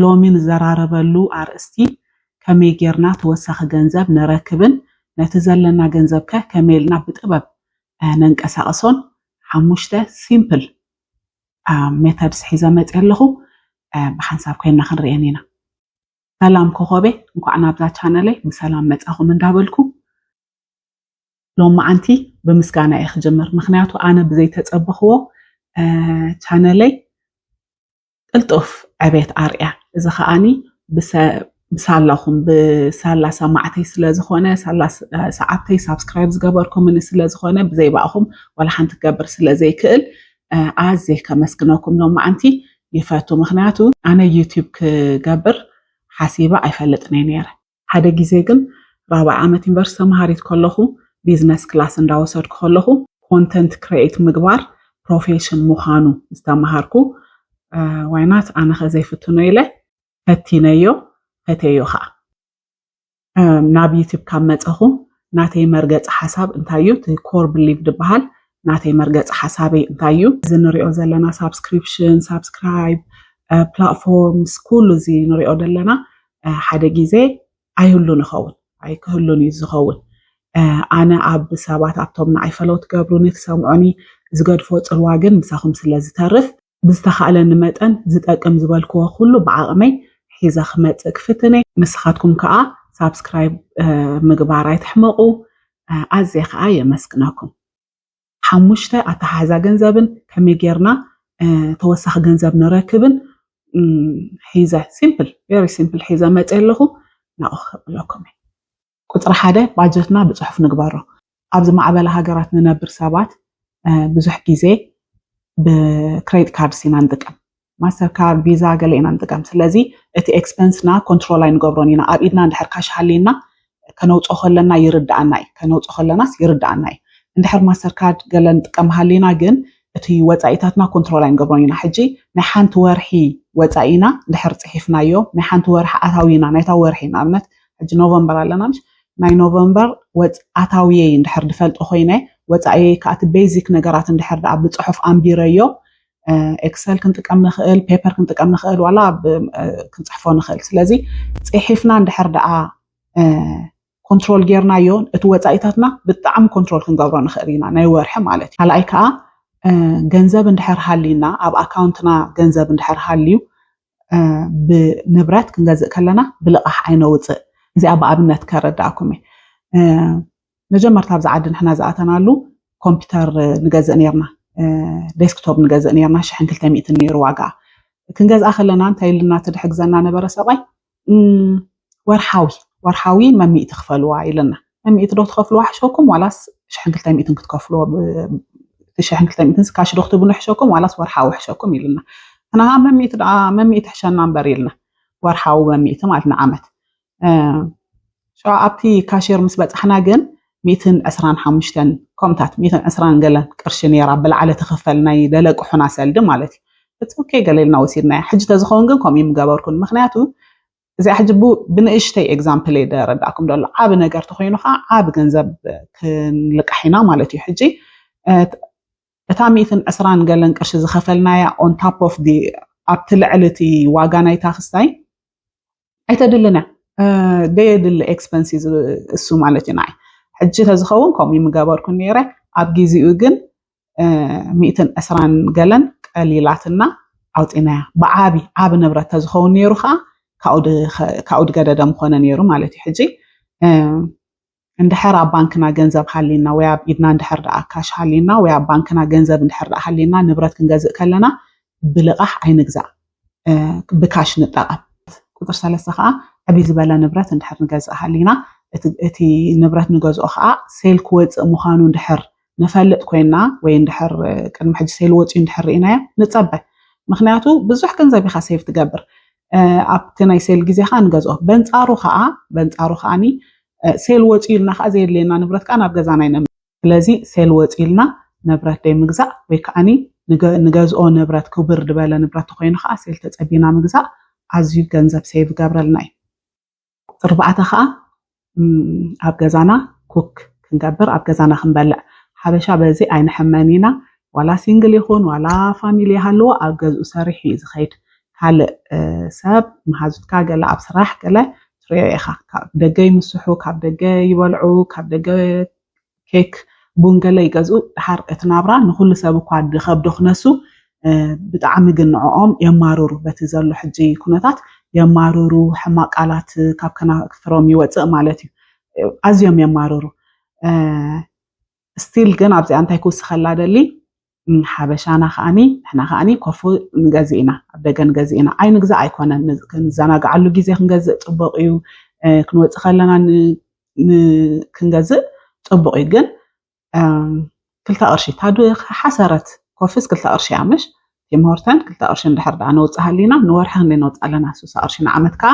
ሎሚ ንዘራረበሉ ኣርእስቲ ከመይ ጌርና ተወሳኺ ገንዘብ ንረክብን ነቲ ዘለና ገንዘብ ከ ከመይ ኢልና ብጥበብ ነንቀሳቕሶን ሓሙሽተ ሲምፕል ሜተድስ ሒዘ መፅየ ኣለኹ ብሓንሳብ ኮይና ክንርኤን ኢና ሰላም ኮኾቤ እንኳዕ ናብዛ ቻነለይ ብሰላም መፃኹም እንዳበልኩ ሎማዓንቲ ብምስጋና እየ ክጅምር ምክንያቱ ኣነ ብዘይተፀበኽዎ ቻነለይ ቅልጡፍ ዕቤት ኣርያ እዚ ከዓኒ ብሳላኹም ብሳላ ሰማዕተይ ስለዝኾነ ሳላ ሰዓብተይ ሳብስክራይብ ዝገበርኩምኒ ስለዝኾነ ብዘይ ባእኹም ዋላ ሓንቲ ክገብር ስለዘይክእል ኣዝየ ከመስግነኩም ሎማዓንቲ ይፈቱ ምክንያቱ ኣነ ዩቲዩብ ክገብር ሓሲበ ኣይፈልጥን እየ ነይረ ሓደ ግዜ ግን ራብዓይ ዓመት ዩኒቨርስቲ ተምሃሪት ከለኹ ቢዝነስ ክላስ እንዳወሰድኩ ከለኹ ኮንተንት ክሬኤት ምግባር ፕሮፌሽን ምዃኑ ዝተምሃርኩ ዋይናት ኣነኸ ዘይፍትኖ ኢለ ፈቲነዮ ፈቴዮ ከዓ ናብ ዩቲብ ካብ መፀኹ ናተይ መርገፂ ሓሳብ እንታይ እዩ እቲ ኮር ብሊቭ ድበሃል ናተይ መርገፂ ሓሳበይ እንታይ እዩ እዚ ንሪኦ ዘለና ሳብስክሪፕሽን ሳብስክራይብ ፕላትፎርምስ ኩሉ እዚ ንሪኦ ዘለና ሓደ ግዜ ኣይህሉን ይኸውን ኣይክህሉን እዩ ዝኸውን ኣነ ኣብ ሰባት ኣብቶም ንዓይ ፈለው ትገብሩኒ ትሰምዑኒ ዝገድፎ ፅልዋ ግን ምሳኹም ስለ ዝተርፍ ብዝተኻእለኒ መጠን ዝጠቅም ዝበልክዎ ኩሉ ብዓቕመይ ሒዘ ክመፅእ ክፍትነ ንስኻትኩም ከዓ ሳብስክራይብ ምግባር ኣይትሕመቑ ኣዝየ ከዓ የመስግነኩም ሓሙሽተ ኣተሓሕዛ ገንዘብን ከመይ ጌርና ተወሳኺ ገንዘብ ንረክብን ሒዘ ሲምፕል ቨሪ ሲምፕል ሒዘ መፀ ኣለኹ ናኡ ክከብለኩም እዩ ቁፅሪ ሓደ ባጀትና ብፅሑፍ ንግበሮ ኣብ ዝማዕበለ ሃገራት ንነብር ሰባት ብዙሕ ግዜ ብክሬዲት ካርድስ ኢና ንጥቀም ማስተር ካርድ ቪዛ ገለ ኢና ንጥቀም ስለዚ እቲ ኤክስፐንስና ኮንትሮል ኣይንገብሮን ኢና ኣብ ኢድና እንድሕር ካሽ ሃልየና ከነውፅኦ ከለና ይርድኣና እዩ ከነውፅኦ ከለናስ ይርድኣና እዩ እንድሕር ማስተር ካርድ ገለ ንጥቀም ሃሊና ግን እቲ ወፃኢታትና ኮንትሮል ኣይንገብሮን ኢና ሕጂ ናይ ሓንቲ ወርሒ ወፃኢና እንድሕር ፅሒፍናዮ ናይ ሓንቲ ወርሒ ኣታዊና ናይታ ወርሒ ንኣብነት ሕጂ ኖቨምበር ኣለና ምሽ ናይ ኖቨምበር ወፃኣታዊየይ እንድሕር ድፈልጦ ኮይነ ወፃኢየይ ከኣቲ ቤዚክ ነገራት እንድሕር ድኣ ብፅሑፍ ኣንቢረዮ ኤክሰል ክንጥቀም ንኽእል ፔፐር ክንጥቀም ንኽእል ዋላ ክንፅሕፎ ንኽእል ስለዚ ፅሒፍና እንድሕር ደኣ ኮንትሮል ጌርናዮ እቲ ወፃኢታትና ብጣዕሚ ኮንትሮል ክንገብሮ ንኽእል ኢና ናይ ወርሒ ማለት እዩ ካልኣይ ከዓ ገንዘብ እንድሕር ሃልዩና ኣብ ኣካውንትና ገንዘብ እንድሕር ሃልዩ ብንብረት ክንገዝእ ከለና ብልቓሕ ኣይነውፅእ እዚኣ ብኣብነት ከረዳእኩም እየ መጀመርታ ኣብዚ ዓዲ ንሕና ዝኣተናሉ ኮምፒውተር ንገዝእ ነርና ዴስክቶፕ ንገዝእ ነርና ሽሕን ክልተ ሚእትን ነይሩ ዋጋ ክንገዝኣ ከለና እንታይ ኢልና ትድሕግዘና ነበረ ሰብኣይ ወርሓዊ ወርሓዊ መሚእቲ ክፈልዋ ኢለና መሚእቲ ዶ ትኸፍልዋ ሕሸኩም ዋላስ ሽሕን ክልተ ሚእትን ክትከፍልዎ ሽሕን ክልተ ሚእትን ስካሽ ዶ ክትብሉ ሕሸኩም ዋላስ ወርሓዊ ሕሸኩም ኢልና ንሃ መሚእቲ ደኣ መሚእቲ ሕሸና እምበር ኢልና ወርሓዊ መሚእቲ ማለት ንዓመት ሸ ኣብቲ ካሽር ምስ በፃሕና ግን ሚእትን ዕስራን ሓሙሽተን ከምታት ሚእትን ዕስራን ገለን ቅርሺ ነይራ ብላዕለ ትኽፈል ናይ ደለቅሑና ሰልዲ ማለት እዩ እትከይ ገሌልና ወሲድናያ ሕጂ ተዝኸውን ግን ከምኡ ምገበርኩን ምክንያቱ እዚኣ ሕጂ ብንእሽተይ ኤግዛምፕል እየ ደረዳእኩም ደሎ ዓብ ነገር ተኮይኑ ከዓ ዓብ ገንዘብ ክንልቃሕ ኢና ማለት እዩ ሕጂ እታ ሚእትን ዕስራን ገለን ቅርሺ ዝኸፈልናያ ኦን ታፕ ኦፍ ዲ ኣብቲ ልዕሊ እቲ ዋጋ ናይታ ክስታይ ኣይተድልን እያ ደየድሊ ኤክስፐንስ እዩ እሱ ማለት እዩ ንዓይ ሕጂ ተዝኸውን ከምኡ ምገበርኩ ነይረ ኣብ ግዜኡ ግን ሚእትን ዕስራን ገለን ቀሊላትና ኣውፂናያ ብዓቢ ዓቢ ንብረት ተዝኸውን ነይሩ ከዓ ካብኡ ድገደደ ምኾነ ነይሩ ማለት እዩ ሕጂ እንድሕር ኣብ ባንክና ገንዘብ ሃሊና ወይ ኣብ ኢድና እንድሕር ደኣ ካሽ ሃሊና ወይ ኣብ ባንክና ገንዘብ እንድሕር ደኣ ሃሊና ንብረት ክንገዝእ ከለና ብልቓሕ ኣይንግዛእ ብካሽ ንጠቐም። ቁፅሪ ሰለስተ ከዓ ዕብይ ዝበለ ንብረት እንድሕር ንገዝእ ሃሊና እቲ ንብረት ንገዝኦ ከዓ ሴል ክወፅእ ምዃኑ እንድሕር ንፈልጥ ኮይና ወይ እንድሕር ቅድሚ ሕጂ ሴል ወፅዩ እንድሕር ርኢናዮ ንፀበ ምክንያቱ ብዙሕ ገንዘብ ኢኻ ሴቭ ትገብር ኣብቲ ናይ ሴል ግዜ ከዓ ንገዝኦ በንፃሩ ከዓ በንፃሩ ከዓኒ ሴል ወፅዩ ኢልና ከዓ ዘየድልየና ንብረት ከዓ ናብ ገዛና ይነምፅእ ስለዚ ሴል ወጺልና ነብረት ደይምግዛእ ወይ ከኣኒ ንገዝኦ ነብረት ክብር ድበለ ንብረት ተኾይኑ ከኣ ሴል ተጸቢና ምግዛእ ኣዝዩ ገንዘብ ሴቭ ይገብረልና እዩ። ርባዕተ ከኣ ኣብ ገዛና ኩክ ክንገብር ኣብ ገዛና ክንበልዕ ሓበሻ በዚ ኣይንሕመን ኢና ዋላ ሲንግል ይኹን ዋላ ፋሚሊ ይሃልዎ ኣብ ገዝኡ ሰሪሑ እዩ ዝኸይድ ካልእ ሰብ መሃዙትካ ገለ ኣብ ስራሕ ገለ ትሪኦ ኢኻ ካብ ደገ ይምስሑ ካብ ደገ ይበልዑ ካብ ደገ ኬክ፣ ቡን ገለ ይገዝኡ። ደሓር እቲ ናብራ ንኹሉ ሰብ እኳ ድኸብዶ ክነሱ ብጣዕሚ ግን ንዕኦም የማርሩ። በቲ ዘሎ ሕጂ ኩነታት የማርሩ፣ ሕማቅ ቃላት ካብ ከናፍሮም ይወጽእ ማለት እዩ። ኣዝዮም የማርሩ። ስቲል ግን ኣብዚኣ እንታይ ክውስኸላ ደሊ ሓበሻና ከዓኒ ንሕና ከዓኒ ኮፉ ንገዝእ ኢና ኣብ ደገ ንገዝእ ኢና ኣይ ምግዛእ ኣይኮነን ክንዘናግዓሉ ግዜ ክንገዝእ ፅቡቅ እዩ ክንወፅእ ከለና ክንገዝእ ፅቡቅ እዩ ግን ክልተ ቅርሺ ታዱ ሓሰረት ኮፍስ ክልተ ቅርሺ እያ ምሽ ቲምሆርተን ክልተ ቅርሺ እንድሕር ዳኣ ነውፅእ ሃሊና ንወርሒ ክንደይ ነውፅእ ኣለና ስሳ ቅርሺ ንዓመት ከዓ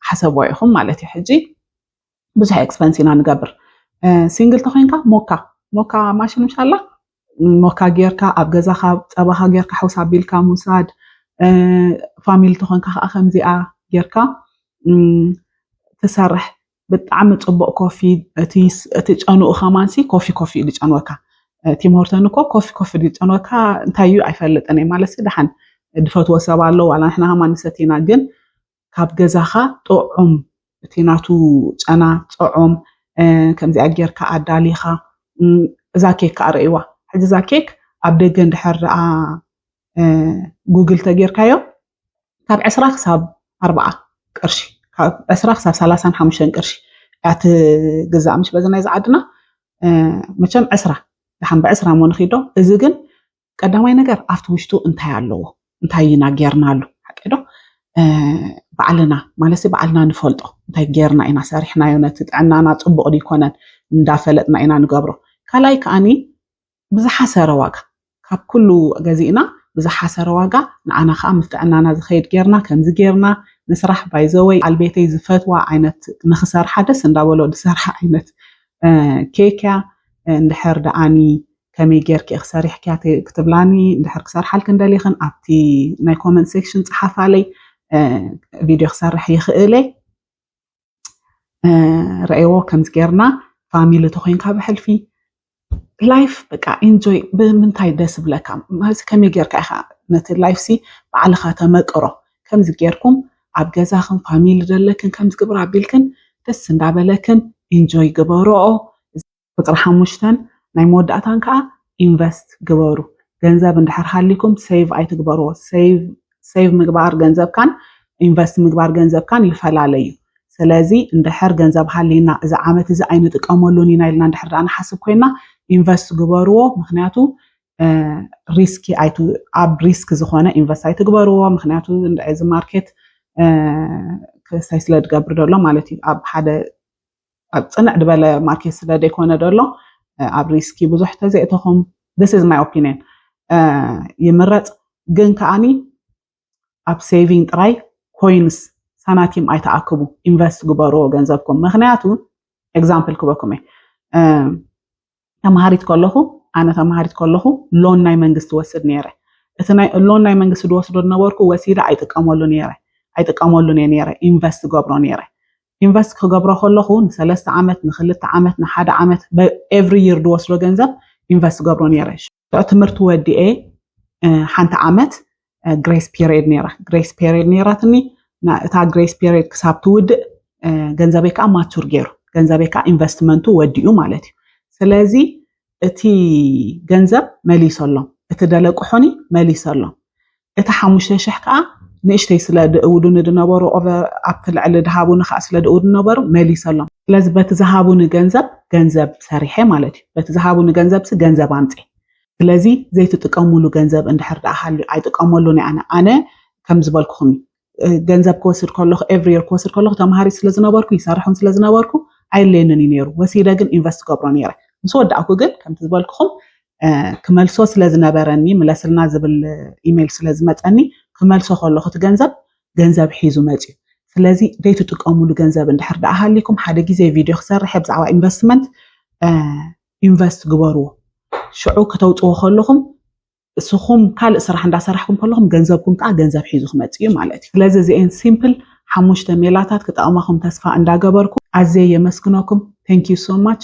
ሓሰብዎ ኢኹም ማለት እዩ ሕጂ ብዙሕ ኤክስፐንስ ኢና ንገብር ሲንግል ተኮይንካ ሞካ ሞካ ማሽን ምሻላ ሞካ ጌርካ ኣብ ገዛካ ፀባካ ጌርካ ሕውስ ኣቢልካ ምውሳድ ፋሚሊ ተኮንካ ከዓ ከምዚኣ ጌርካ ትሰርሕ ብጣዕሚ ፅቡቅ ኮፊ እቲ ጨንኡ ከማንሲ ኮፊ ኮፊ እዩ ዝጨንወካ ቲም ሆርተን እኮ ኮፊ ኮፊ ዝጨንወካ እንታይ እዩ ኣይፈልጥን እየ ማለት ደሓን ዝፈትዎ ሰብ ኣሎ ዋላ ንሕና ከማ ንሰቲና ግን ካብ ገዛኻ ጥዑም እቲ ናቱ ጨና ጥዑም ከምዚኣ ጌርካ ኣዳሊኻ እዛ ኬክ ከዓ ረእይዋ ሕዚ እዛ ኬክ ኣብ ደገ እንድሕር ደኣ ጉግል ተጌርካዮ ካብ ዕስራ ክሳብ ኣርባዓ ቅርሺ ካብ ዕስራ ክሳብ ሰላሳን ሓሙሽተን ቅርሺ እያ ትግዛእ ምሽ በዚ ናይዚ ዓድና መቸም ዕስራ ድሓን ብዕስራ ሞ ንኺዶ እዚ ግን ቀዳማይ ነገር ኣብቲ ውሽጡ እንታይ ኣለዎ እንታይ ኢና ጌርናሉ ሓቀዶ ባዕልና ማለት ባዕልና ንፈልጦ እንታይ ጌርና ኢና ሰሪሕናዮ ነቲ ጥዕናና ፅቡቕ ድይኮነን እንዳፈለጥና ኢና ንገብሮ ካልኣይ ከዓኒ ብዝሓሰረ ዋጋ ካብ ኩሉ ገዚእና ብዝሓሰረ ዋጋ ንዓና ከዓ ምስ ጥዕናና ዝኸይድ ጌርና ከምዚ ጌርና ንስራሕ ባይዘወይ ኣልቤተይ ዝፈትዋ ዓይነት ንክሰርሓ ደስ እንዳበሎ ዝሰርሓ ዓይነት ኬክያ እንድሕር ደኣኒ ከመይ ጌርኪ ኢኺ ሰሪሕክያ ክትብላኒ እንድሕር ክሰርሓልክን ደሊኽን ኣብቲ ናይ ኮመንት ሴክሽን ፀሓፋለይ ቪድዮ ክሰርሕ ይኽእል እየ ረእዎ ከምዚ ጌርና ፋሚሊ ተኮይንካ ብሕልፊ ላይፍ በቃ ኢንጆይ ብምንታይ ደስ ብለካ ማለት ከመይ ጌርካ ኢኻ ነቲ ላይፍ ሲ ባዕልኻ ተመቅሮ ከምዚ ጌርኩም ኣብ ገዛኽን ፋሚሊ ዘለክን ከምዚ ግብር ኣቢልክን ደስ እንዳበለክን ኢንጆይ ግበሮኦ ቁፅሪ ሓሙሽተን ናይ መወዳእታን ከዓ ኢንቨስት ግበሩ ገንዘብ እንድሕር ሃሊኩም ሴቭ ኣይትግበርዎ ሴቭ ምግባር ገንዘብካን ኢንቨስት ምግባር ገንዘብካን ይፈላለዩ ስለዚ እንድሕር ገንዘብ ሃሊና እዚ ዓመት እዚ ኣይንጥቀመሉን ኢና ኢልና እንድሕር ዳኣ ንሓስብ ኮይና ኢንቨስት ግበርዎ ምክንያቱ ሪስኪ ኣብ ሪስክ ዝኾነ ኢንቨስት ኣይትግበርዎ ምክንያቱ እዚ ማርኬት ክሳይ ስለ ዝገብር ዘሎ ማለት እዩ ኣብ ሓደ ኣብ ፅንዕ ድበለ ማርኬት ስለ ዘይኮነ ደሎ ኣብ ሪስኪ ብዙሕ ተዘእተኹም ስ ዝ ማይ ኦፒኒን ይምረፅ ግን ከዓኒ ኣብ ሴቪንግ ጥራይ ኮይንስ ሳናቲም ኣይተኣክቡ ኢንቨስት ግበርዎ ገንዘብኩም ምክንያቱ ኤግዛምፕል ክበኩም እየ ተማሃሪት ከለኹ ኣነ ተማሃሪት ከለኹ ሎን ናይ መንግስቲ ወስድ ነይረ እቲ ናይ ሎን ናይ መንግስቲ ድወስዶ ዝነበርኩ ወሲደ ኣይጥቀመሉ ነይረ ኣይጥቀመሉ እየ ነይረ ኢንቨስት ገብሮ ነይረ ኢንቨስት ክገብሮ ከለኹ ንሰለስተ ዓመት ንክልተ ዓመት ንሓደ ዓመት ኤቭሪ ይር ድወስዶ ገንዘብ ኢንቨስት ገብሮ ነይረ ትምህርቲ ወዲኤ ሓንቲ ዓመት ግሬስ ፔሪድ ነይራ ግሬስ ፔሪድ ነይራትኒ እታ ግሬስ ፔሪድ ክሳብ ትውድእ ገንዘበይ ከዓ ማቹር ገይሩ ገንዘበይ ከዓ ኢንቨስትመንቱ ወዲኡ ማለት እዩ ስለዚ እቲ ገንዘብ መሊሰሎም እቲ ደለቅሑኒ መሊሰሎም እቲ ሓሙሽተ ሽሕ ከኣ ንእሽተይ ስለ ድእውዱኒ ድነበሩ ኦቨር ኣብቲ ልዕሊ ድሃቡኒ ከኣ ስለ ድእውዱኒ ነበሩ መሊሰሎም። ስለዚ በቲ ዝሃቡኒ ገንዘብ ገንዘብ ሰሪሐ ማለት እዩ። በቲ ዝሃቡኒ ገንዘብሲ ገንዘብ ኣምጼ። ስለዚ ዘይትጥቀሙሉ ገንዘብ እንድሕር ደኣ ሃልዩ ኣይጥቀመሉን እየ ኣነ። ኣነ ከም ዝበልኩኹም እዩ። ገንዘብ ክወስድ ከለኹ ኤቭሪ የር ክወስድ ከለኹ ተምሃሪ ስለ ዝነበርኩ ይሰርሕን ስለ ዝነበርኩ ኣይለየንን እዩ ነይሩ ወሲደ ግን ኢንቨስት ገብሮ ነይረ ምስ ወዳእኩ ግን ከምቲ ዝበልክኹም ክመልሶ ስለ ዝነበረኒ ምለስልና ዝብል ኢሜይል ስለ ዝመፀኒ ክመልሶ ከለኹ እቲ ገንዘብ ገንዘብ ሒዙ መፅዩ ስለዚ ዘይትጥቀሙሉ ገንዘብ እንድሕር ደኣ ሃሊኩም ሓደ ግዜ ቪድዮ ክሰርሐ ብዛዕባ ኢንቨስትመንት ኢንቨስት ግበርዎ ሽዑ ከተውፅዎ ከለኹም እስኹም ካልእ ስራሕ እንዳሰራሕኩም ከለኹም ገንዘብኩም ከዓ ገንዘብ ሒዙ ክመፅእ እዩ ማለት እዩ ስለዚ እዚኤን ሲምፕል ሓሙሽተ ሜላታት ክጠቕማኹም ተስፋ እንዳገበርኩ ኣዝየ የመስግነኩም ተንኪዩ ሶ ማች